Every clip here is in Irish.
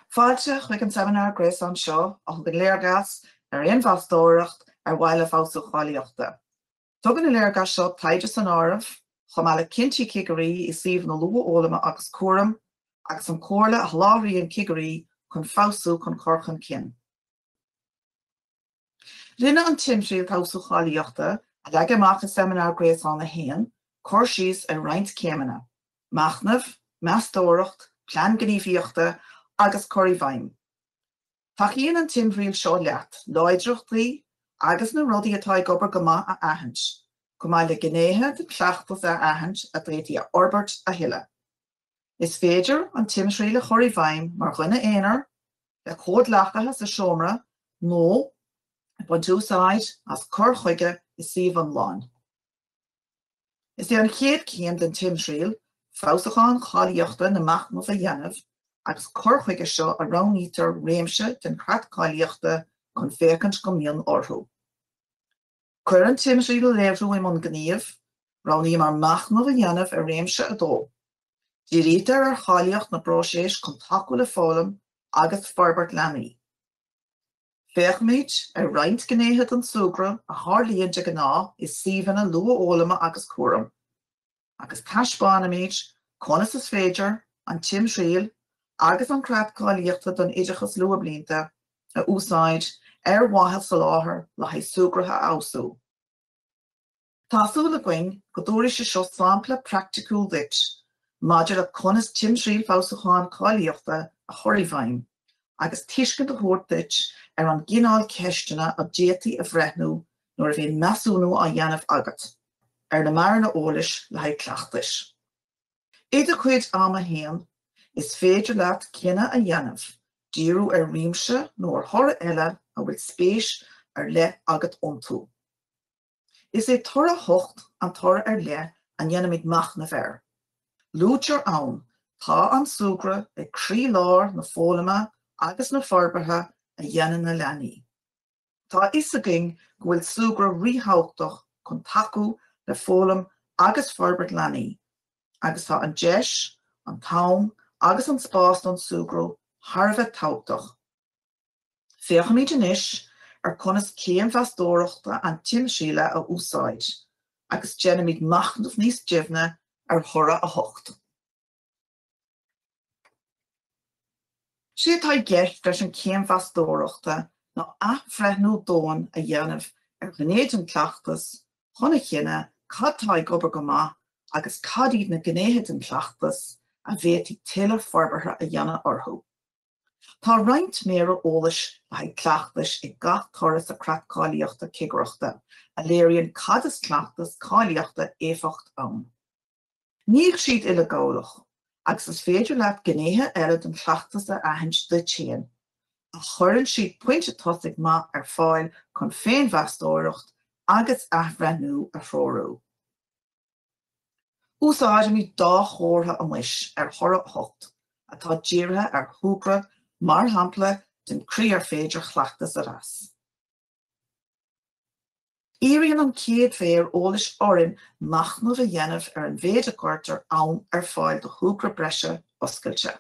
Fáilte chuig an seimineár gréasáin seo a thugann léargas ar fhéinmheastóireacht ar mhaithe le feabhsú cháilíochta. Tugann an léargas seo taighde san áireamh, chomh maith le cinntí cigirí i suíomh na luathfhoghlama agus cúraim, agus an chomhairle a sholáthraíonn cigirí chun feabhsú a chur chun cinn. Rinne an timthriall Feabhsú Cáilíochta, a leagadh amach i Seimineár Gréasáin 1, cur síos ar roinnt céimeanna, machnamh, meastóireacht, plean gníomhaíochta agus cur i bhfeidhm. Tacaíonn an timthriall seo leat láidreachtaí agus na rudaí atá ag obair go maith a aithint, chomh maith le gnéithe den chleachtas a aithint a d'fhéadfaí a fhorbairt a thuilleadh. Is féidir an timthriall a chur i bhfeidhm mar dhuine aonair, le comhghleacaithe sa seomra nó ag baint úsáid as cur chuige suímh iomlán. Is é an chéad chéim den timthriall feabhsúcháin cáilíochta ná machnamh a dhéanamh agus chuige seo roghnaítear réimse den Chreat Cáilíochta chun féachaint go mion orthu. Chun an timthriall a léiriú i mbun gnímh, roghnaíomar machnamh a dhéanamh ar réimse 2. Dírítear ar cháilíocht na bpróiseas chun tacú le foghlaim agus forbairt leanaí. Féachaimid ar roinnt gnéithe den súgradh a tharlaíonn de ghnáth i suíomhanna luathfhoghlama agus cúraim, agus taispeánaimid conas is féidir an timthriall agus an Creat Cáilíochta don Oideachas Luathbhlianta a úsáid ar mhaithe soláthar le haghaidh súgradh a fheabhsú. Tá súil againn go dtabharfaidh sé seo sampla praiticiúil duit maidir le conas timthriall feabhsúcháin cáilíochta a chur i bhfeidhm agus tuiscint a thabhairt duit ar an gcineál ceisteanna a d'fhéadfaí a bhreithniú nuair a bhíonn measúnú á dhéanamh agat ar na méara eolais le haghaidh cleachtais. I do chuid ama féin, is féidir leat cinneadh a dhéanamh díriú ar réimse nó ar thoradh eile a bhfuil spéis ar leith agat iontu. Is é toradh 8 an toradh ar leith a ndéanaimid machnamh air. Luaitear ann, Tá an súgradh ag croí-lár na foghlama agus na forbartha a dhéanann na leanaí. Tá a fhios againn go bhfuil súgradh ríthabhachtach chun tacú le foghlaim agus forbairt leanaí, agus tá an deis, an t-am agus an spás don súgradh thar a bheith tábhachtach. Féachfaimid anois ar conas céim mheastóireachta an timthrialla a úsáid agus déanfaimid machnamh níos doimhne ar thoradh 8. 'S é atá i gceist leis an céim mheastóireachta ná athbhreithniú domhain a dhéanamh ar ghné den chleachtas chun a chinneadh cad tá ag obair go maith agus cad iad na gnéithe den chleachtas a bhféadfaí tuilleadh forbartha a dhéanamh orthu. Tá roinnt méara eolais le haghaidh cleachtais ag gach toradh sa Chreat Cáilíochta Cigireachta a léiríonn cad is cleachtas cáilíochta éifeacht ann. Níl siad uileghabhálach, agus is féidir leat gnéithe eile den chleachtas a aithint duit féin, ach cuireann siad pointe tosaigh maith ar fáil chun féinmheastóireacht agus athbhreithniú a threorú. Úsáidimid dhá chomhartha anois ar thoradh 8, atá dírithe ar shúgradh, mar shampla den chaoi ar féidir chleachtas a mheas. Iarrann an chéad mhéar eolais orainn machnamh a dhéanamh ar an mhéid a gcuirtear am ar fáil do shúgradh breise oscailte.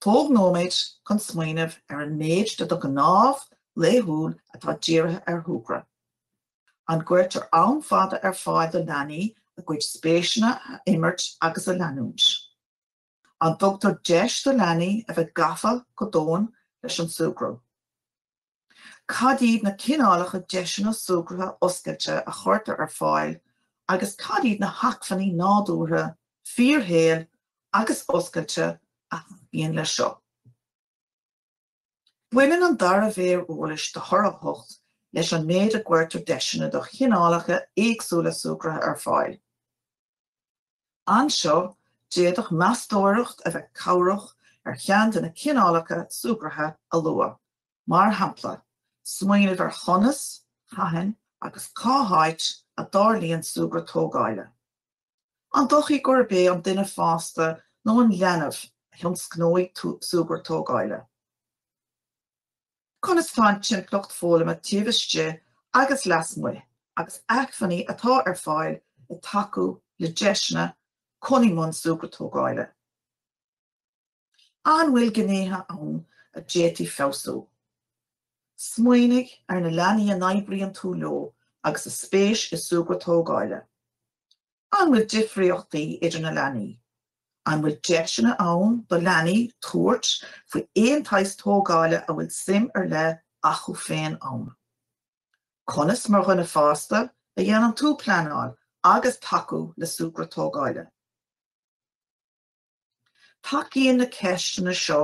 Tóg nóiméad chun smaoineamh ar an méid de do ghnáthamh laethúil atá dírithe ar shúgradh. An gcuirtear am fada ar fáil do leanaí a gcuid spéiseanna a imirt agus a leanúint? An dtugtar deis do leanaí a bheith gafa go domhain leis an súgradh? Cad iad na cineálacha deiseanna súgartha oscailte a chuirtear ar fáil agus cad iad na hacmhainní nádúrtha, fíorshaoil agus oscailte a thacaíonn leis seo? Baineann an dara mhéar eolais de thoradh 8 leis an méid a gcuirtear deiseanna do chineálacha éagsúla súgartha ar fáil. Anseo, d'fhéadfadh meastóireacht a bheith cabhrach ar cheann de na cineálacha súgartha a luadh, mar shampla, smaoineamh ar chonas, cathain agus cá háit a dtarlaíonn súgradh tógála. An dóichí gurb é an duine fásta nó an leanbh a thionscnóidh súgradh tógála? Conas atá an timpeallacht foghlama taobh istigh agus lasmuigh agus acmhainní atá ar fáil ag tacú le deiseanna chun dul i mbun súgradh tógála? An bhfuil gnéithe ann a d'fhéadfaí feabhsú? Smaoinigh ar na leanaí a n-oibríonn tú leo agus a spéis i súgradh tógála. An bhfuil difríochtaí idir na leanaí? An bhfuil deiseanna ann do leanaí tabhairt faoi aon tsaghas tógála a bhfuil suim ar leith acu féin ann? Conas, mar dhuine fásta, a dhéanann tú pleanáil agus tacú le súgradh tógála? Tacaíonn na ceisteanna seo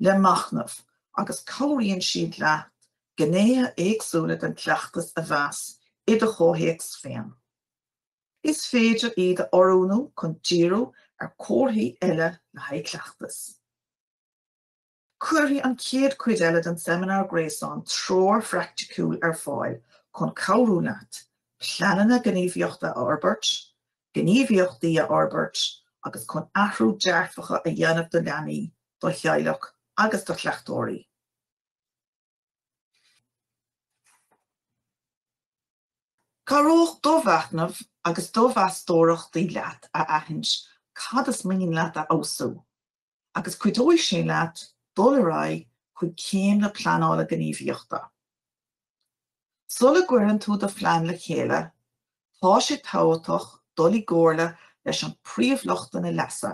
le machnamh agus cabhraíonn siad leat gnéithe éagsúla den chleachtas a mheas i do chomhthéacs féin. Is féidir iad a oiriúnú chun díriú ar chomharthaí eile le haghaidh cleachtais. Cuirfidh an chéad chuid eile den seimineár gréasáin treoir phraiticiúil ar fáil chun cabhrú leat pleananna gníomhaíochta a fhorbairt, gníomhaíochtaí a fhorbairt agus chun athrú dearfacha a dhéanamh do leanaí, do theaghlaigh agus do chleachtóirí. Cabhróidh do mhachnamh agus do mheastóireachtaí leat a aithint cad is mian leat a fheabhsú. Agus cuideoidh sé leat dul ar aghaidh chuig céim na pleanála gníomhaíochta. Sula gcuireann tú do phlean le chéile, tá sé tábhachtach dul i gcomhairle leis an bpríomhluchtanna leasa,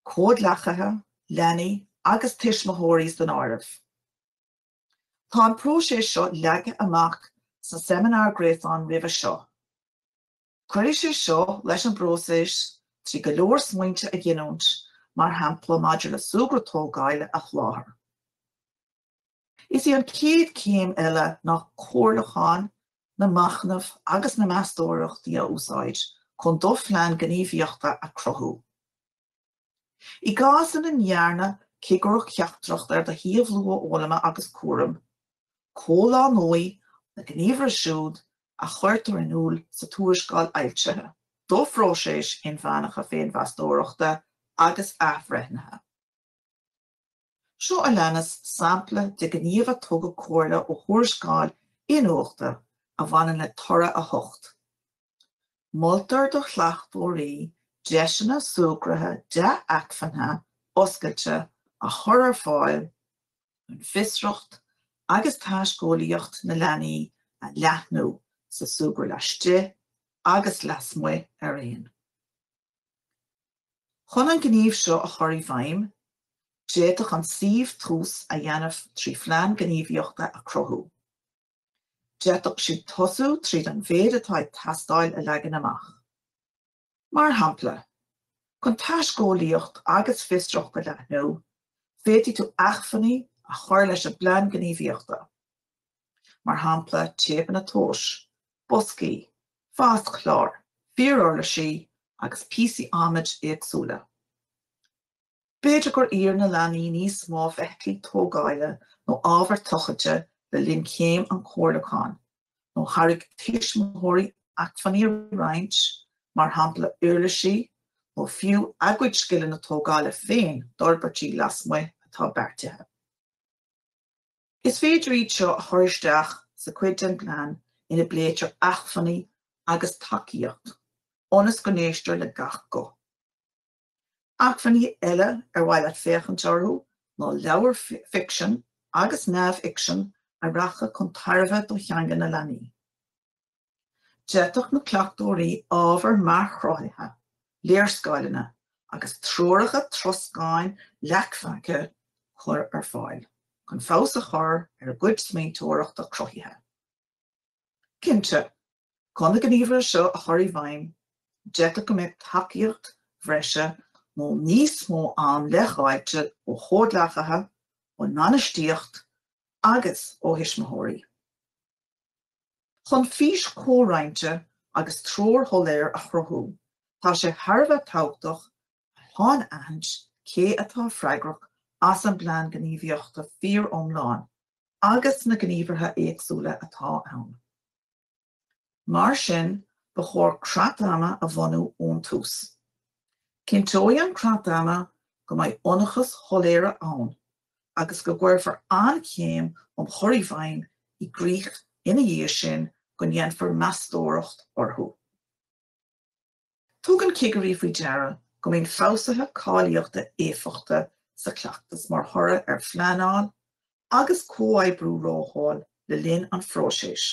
comhghleacaithe, leanaí agus tuismitheoirí san áireamh. Tá an próiseas seo leagtha amach sa seimineár gréasáin roimhe seo. Cuirfidh sé seo leis an bpróiseas trí go leor smaointe a ghiniúint, mar shampla maidir le súgradh tógála a sholáthar. Is í an chéad chéim eile ná comhairliúcháin, na machnaimh agus na meastóireachtaí a úsáid chun do phlean gníomhaíochta a chruthú. I gcás ina ndearna cigireacht sheachtrach ar do shuíomh luathfhoghlama agus cúraim, comhlánóidh na gníomhartha siúd a chuirtear in iúl sa tuarascáil fhoilsithe do phróiseas inmheánach féinmheastóireachta agus athbhreithnithe. Seo a leanas sampla de ghníomh a tugadh mar chomhairle ó thuarascáil iniúchta a bhaineann le toradh 8, Moltar do chleachtóirí deiseanna súgartha dea-acmhainnithe oscailte a chur ar fáil chun fiosracht agus taiscéalaíocht na leanaí a leathnú sa súgradh laistigh agus lasmuigh araon. Chun an gníomh seo a chur i bhfeidhm, d'fhéadfadh an suíomh tús a dhéanamh trí phlean gníomhaíochta a chruthú. D'fhéadfadh siad tosú tríd an méid atá ag teastáil a leagan amach. Mar shampla, chun taiscéalaíocht agus fiosracht a leathnú, féadfaidh tú acmhainní a chur leis an bplean gníomhaíochta. mar shampla téipeanna tomhais, boscaí, fáiscchláir, fíoruirlisí agus píosaí adhmaid éagsúla. B'fhéidir gur iarr na leanaí níos mó feithiclí tógáila nó ábhar tochailte le linn chéim an chomhairliúcháin, nó thairg tuismitheoirí acmhainní a roinnt, mar shampla uirlisí, nó fiú a gcuid scileanna tógála féin d'fhorbairtí lasmuigh atá beartaithe. Is féidir iad seo a chur isteach sa chuid den plean ina bpléitear acmhainní agus tacaíocht, ionas go n-éistear le gach guth. Acmhainní eile ar mhaith leat féachaint orthu ná leabhair ficsin agus neamhfhicsin a rachadh chun tairbhe do theanga na leanaí. D'fhéadfadh na cleachtóirí ábhar mearchruthaithe, léarscáileanna agus treoracha troscán leacphaca a chur ar fáil chun feabhas a chur ar a gcuid smaointeoireachta cruthaithe. Cinnte, chun na gníomhartha seo a chur i bhfeidhm, d'fhéadfadh go mbeadh tacaíocht bhreise nó níos mó ama leithdháilte ó chomhghleacaithe, ón mbainistíocht agus ó thuismitheoirí. Chun fís chomhroinnte agus treoir shoiléir a chruthú, tá sé thar a bheith tábhachtach a shainaithint cé atá freagrach as an bplean gníomhaíochta fíoriomlán agus na gníomhartha éagsúla atá ann. Mar sin, ba chóir creat ama a bhunú ón tús. Cinnteoidh an creat ama go mbeidh ionchais shoiléire ann agus go gcuirfear an chéim um chur i bhfeidhm i gcrích ina dhiaidh sin go ndéanfar meastóireacht orthu. Tugann cigirí faoi deara go mbíonn feabhsuithe cáilíochta éifeachta sa chleachtas mar thoradh ar phleanáil agus comhoibriú rathúil le linn an phróisis,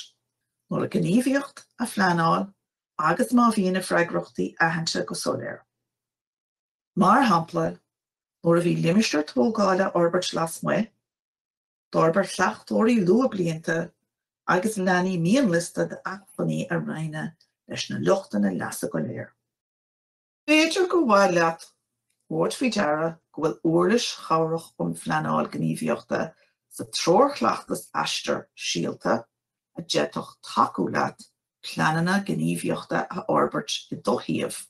nuair a gníomhaíocht a phleanáil agus má bhíonn na freagrachtaí aitheanta go soiléir. Mar shampla, nuair a bhí limistéar tógála á fhorbairt lasmuigh, d'fhorbair chleachtóirí luathbhlianta agus leanaí mianliosta d'acmhainní a roinneadh leis na luchtanna leasa go léir. B'fhéidir gur mhaith leat a thabhairt faoi deara go bhfuil uirlis chabhrach um phleanáil gníomhaíochta sa treoirchleachtas Aistear Síolta a d'fhéadfadh tacú leat pleananna gníomhaíochta a fhorbairt i do shuíomh.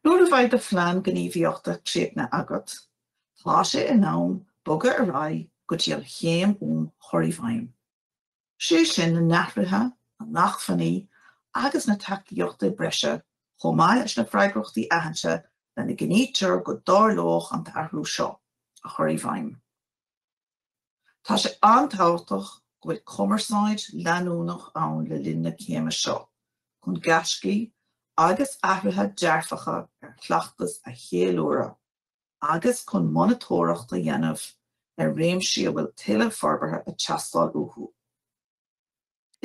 Nuair a bheidh do Phlean Gníomhaíochta dréachtaithe agat, tá sé in am bogadh ar aghaidh go dtí an chéim um chur i bhfeidhm, sé sin na hathruithe, na hacmhainní agus na tacaíochtaí breise chomh maith leis na freagrachtaí aitheanta lena gcinntítear go dtarlóidh an t-athrú seo, a chur i bhfeidhm. Tá sé an-tábhachtach go bhfuil cumarsáid leanúnach ann le linn na céime seo chun gaiscí agus athruithe dearfacha ar chleachtas a cheiliúradh agus chun monatóireacht a dhéanamh ar réimsí a bhfuil tuilleadh forbartha ag teastáil uathu.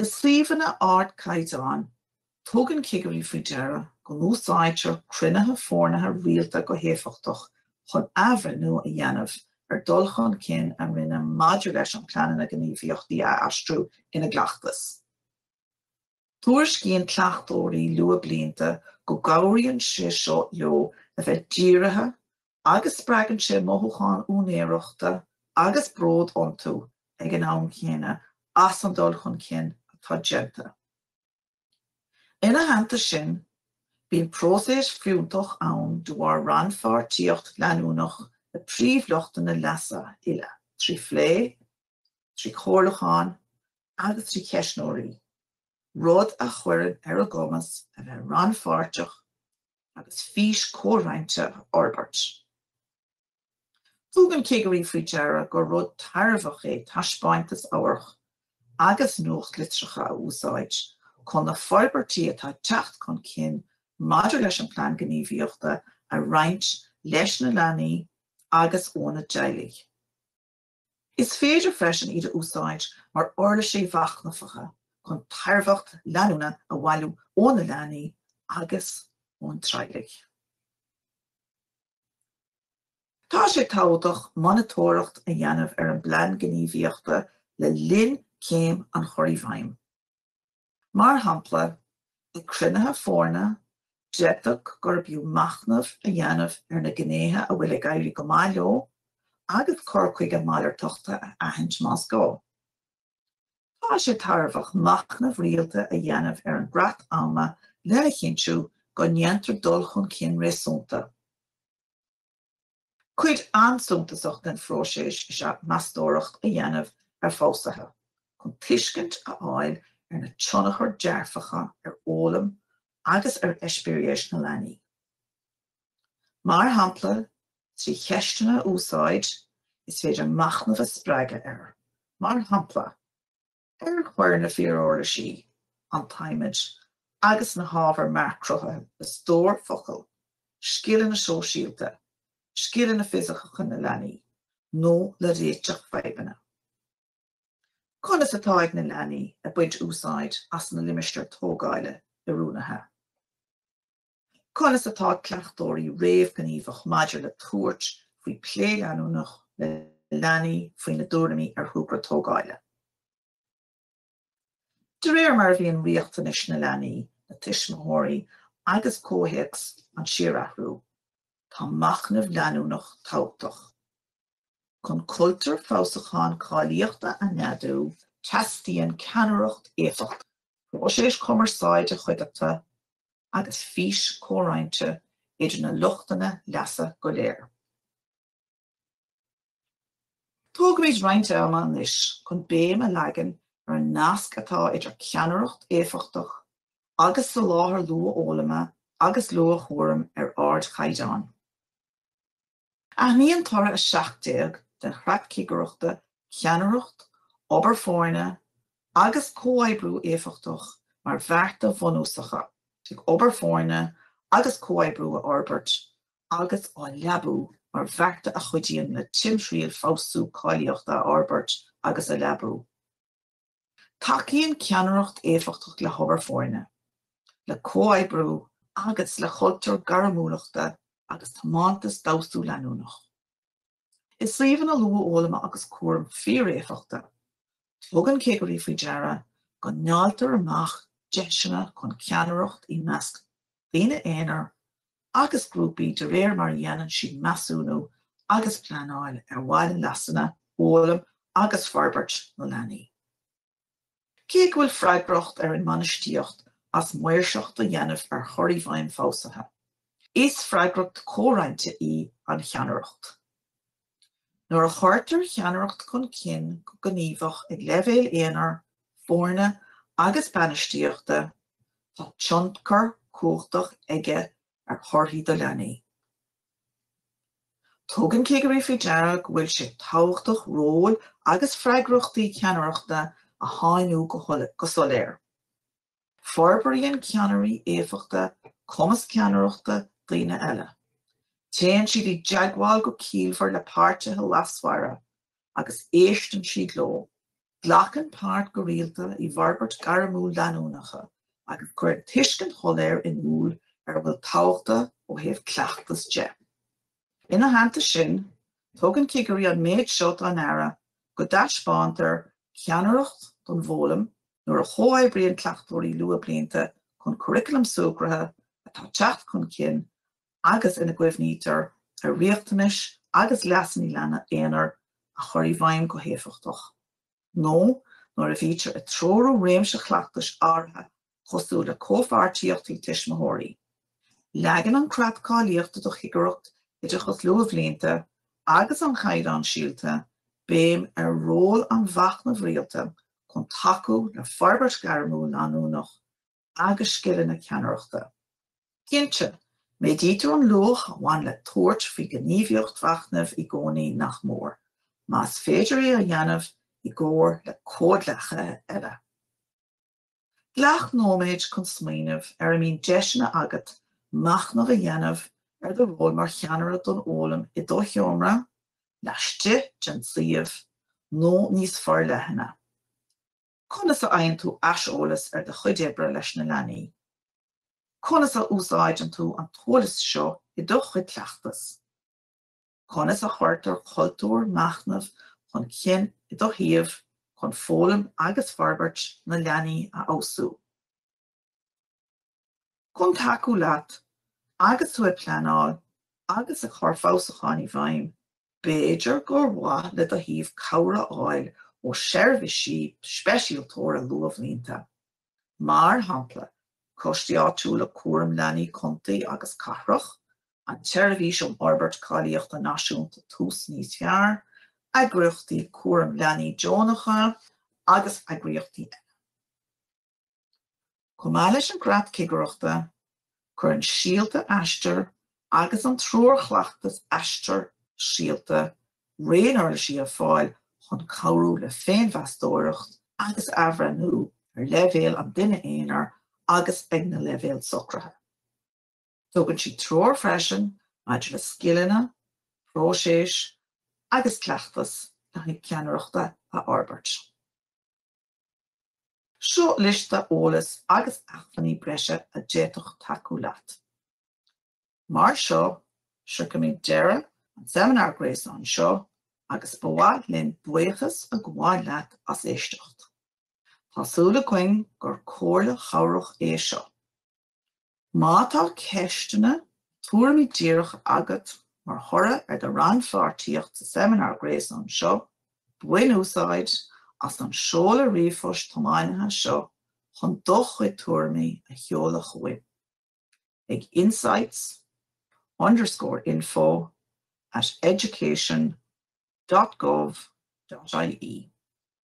I suíomhanna ardchaighdeáin, tugann cigirí faoi deara go n-úsáidtear cruinnithe foirnithe rialta go héifeachtach chun athbhreithniú a dhéanamh ar dul chun cinn a rinneadh maidir leis an pleananna gníomhaíochtaí a aistriú ina gcleachtas. Tuairiscíonn cleachtóirí luathbhlianta go gcabhraíonn sé seo leo a bheith dírithe agus spreagann sé mothúchán úinéireachta agus bród iontu ag an am chéanna as an dul chun cinn atá déanta. Ina theannta sin, bíonn próiseas fiúntach ann de bharr rannpháirtíocht leanúnach le príomhluchtanna leasa uile, trí phlé, trí chomhairliúcháin agus trí cheistneoirí, rud a chuireann ar a gcumas a bheith rannpháirteach agus fís comhroinnte a fhorbairt. Tugann cigirí faoi deara gur rud tairbheach é taispeáintas amhairc agus nuachtlitreacha a úsáid chun na forbairtí atá ag teacht chun cinn maidir leis an plean gníomhaíochta a roinnt leis na leanaí agus óna dteaghlaigh. Is féidir freisin iad a úsáid mar uirlisí machnamhacha chun tairbheacht leanúna a bhailiú ó na leanaí agus ón dteaghlaigh. Tá sé tábhachtach monatóireacht a dhéanamh ar an bplean gníomhaíochta le linn céim an chur i bhfeidhm. Mar shampla, ag cruinnithe foirne, d'fhéadfadh gurb fhiú machnamh a dhéanamh ar na gnéithe a bhfuil ag éirí go maith leo agus cur chuige malartachta a aithint más gá. Tá sé tairbheach machnamh rialta a dhéanamh ar an gcreat ama lena chinntiú go ndéantar dul chun cinn réasúnta. Cuid an-suntasach den phróiseas is ea meastóireacht a dhéanamh ar pholsaithe chun tuiscint a fháil ar na tionchair dearfacha ar fhoghlaim agus ar eispéiris na leanaí. Mar shampla, trí cheisteanna a úsáid, is féidir machnamh a spreagadh ar, mar shampla, Ar chuir na fíoruirlisí, an t-adhmad agus na hábhair mearchrutha le stór focal, scileanna sóisialta, scileanna fisiciúla na leanaí, nó le réiteach fadhbanna? Conas atá ag na leanaí ag baint úsáid as na limistéir tógála oiriúnaithe? Conas atá cleachtóirí réamhghníomhach maidir le tabhairt faoi phlé leanúnach le leanaí faoina dtuairimí ar thogra tógála? De réir mar a bhíonn riachtanais na leanaí, na tuismitheoirí agus comhthéacs ag síorathrú, tá machnamh leanúnach tábhachtach. Chun cultúr feabhsúcháin cáilíochta a neadú, teastaíonn ceannaireacht éifeachtach, próisis cumarsáide chuí-dheartha agus fís comhroinnte idir na luchtanna leasa go léir. Tógfaimid roinnt ama anois chun béim a leagan ar an nasc atá idir ceannaireacht éifeachtach agus soláthar luathfhoghlama agus luathchúraim ar ardchaighdeán. Aithníonn Toradh 17 den Chreat Cigireachta ceannaireacht, obair foirne agus comhoibriú éifeachtach mar bhearta bhunúsacha ag obair foirne agus comhoibriú a fhorbairt agus á leabú mar bhearta a chuidíonn le timthriall feabhsú cáilíochta a fhorbairt agus a leabú. Tacaíonn ceannaireacht éifeachtach le hobair foirne, le comhoibriú agus le cultúr gairmiúlachta agus tiomantas d'fheabhsú leanúnach. I suíomhanna luathfhoghlama agus cúraim fíoréifeachta, tugann cigirí faoi deara go ndáiltear amach deiseanna chun ceannaireacht i measc daoine aonair agus grúpaí de réir mar a dhéanann siad measúnú agus pleanáil ar bhonn leasanna, fhoghlaim agus forbairt na leanaí. Cé go bhfuil freagracht ar an mbainistíocht as maoirseacht a dhéanamh ar chur i bhfeidhm feabhsuithe, is freagracht comhroinnte í an cheannaireacht. Nuair a chuirtear ceannaireacht chun cinn go gníomhach ag leibhéal aonair, foirne agus bainistíochta, tá tionchar cumhachtach aige ar thorthaí do leanaí. Tugann cigirí faoi deara go bhfuil sé tábhachtach ról agus freagrachtaí ceannaireachta a shainiú go soiléir. Forbraíonn ceannairí éifeachta cumas ceannaireachta daoine eile. Téann siad i dteagmháil go ciallmhar le páirtithe leasmhara agus éisteann siad leo, glacann páirt go rialta i bhforbairt gairmiúil leanúnacha agus cuireann tuiscint shoiléir in iúl ar a bhfuil tábhachta ó thaobh cleachtas de. Ina theannta sin, tugann cigirí an méid seo dá n-aire go dtaispeántar ceannaireacht don bhfoghlaim nuair a chomhoibríonn cleachtóirí luathbhlianta chun curaclam súgartha atá teacht chun cinn agus ina gcuimhnítear ar riachtanais agus leasanna leanaí aonair a chur i bhfeidhm go héifeachtach. nó nuair a bhítear ag treorú réimse chleachtais áirithe cosúil le comhpháirtíochtaí tuismitheoirí. Leagann an Creat Cáilíochta do Chigireacht Oideachas Luathbhlianta agus an Chaighdeáin Síolta béim ar ról an mhachnaimh rialta chun tacú le forbairt ghairmiúil leanúnach agus scileanna ceannaireachta. Cinnte, méadaítear an luach a bhain le tabhairt faoi ghníomhaíocht mhachnaimh i gcónaí nach mór, más féidir é a dhéanamh i gcomhar le comhghleacaithe eile. Glac nóiméid chun smaoineamh ar a mbíonn deiseanna agat machnamh a dhéanamh ar do ról mar cheannaire don fhoghlaim i do sheomra, laistigh den suíomh, nó níos forleithne. Conas a fhaigheann tú aiseolas ar do chuid oibre leis na leanaí? Conas a úsáideann tú an t-eolas seo i do chuid cleachtas? Conas a chuirtear cultúr machnaimh chun cinn i do shuíomh chun foghlaim agus forbairt na leanaí a fheabhsú? Chun tacú leat agus tú ag pleanáil agus ag cur feabhsúcháin i bhfeidhm, b'fhéidir gur mhaith le do shuíomh cabhair a fháil ó seirbhísí speisialtóra luathbhlianta, mar shampla Coistí Áitiúla Cúram Leanaí Contae agus Cathrach, an tSeirbhís um Fhorbairt Cáilíochta Náisiúnta Tús Níos Fearr, eagraíochtaí cúram leanaí deonacha agus eagraíochtaí eile. Chomh maith leis an gCreat Cigireachta, cuireann Síolta Aistear agus an Treoir Chleachtais Aistear Síolta raon uirlisí ar fáil chun cabhrú le féinmheastóireacht agus athbhreithniú ar leibhéal an duine aonair agus ag na leibhéil socraithe. Tugann siad treoir freisin maidir le scileanna, próisis agus cleachtas le haghaidh ceannaireachta a fhorbairt. Seo liosta eolas agus acmhainní breise a d'fhéadfadh tacú leat. Mar seo, sroichimid deireadh an tseimineár gréasáin seo agus ba mhaith linn buíochas a ghabháil leat as éisteacht. Tá súil againn gur comhairle chabhrach é seo. Má tá ceisteanna, tuairimí díreach agat mar thoradh ar do rannpháirtíocht sa seimineár gréasáin seo, bain úsáid as an seoladh ríomhphoist tiomnaithe seo chun do chuid tuairimí a sheoladh chugainn ag insights underscore info at education dot gov dot ie.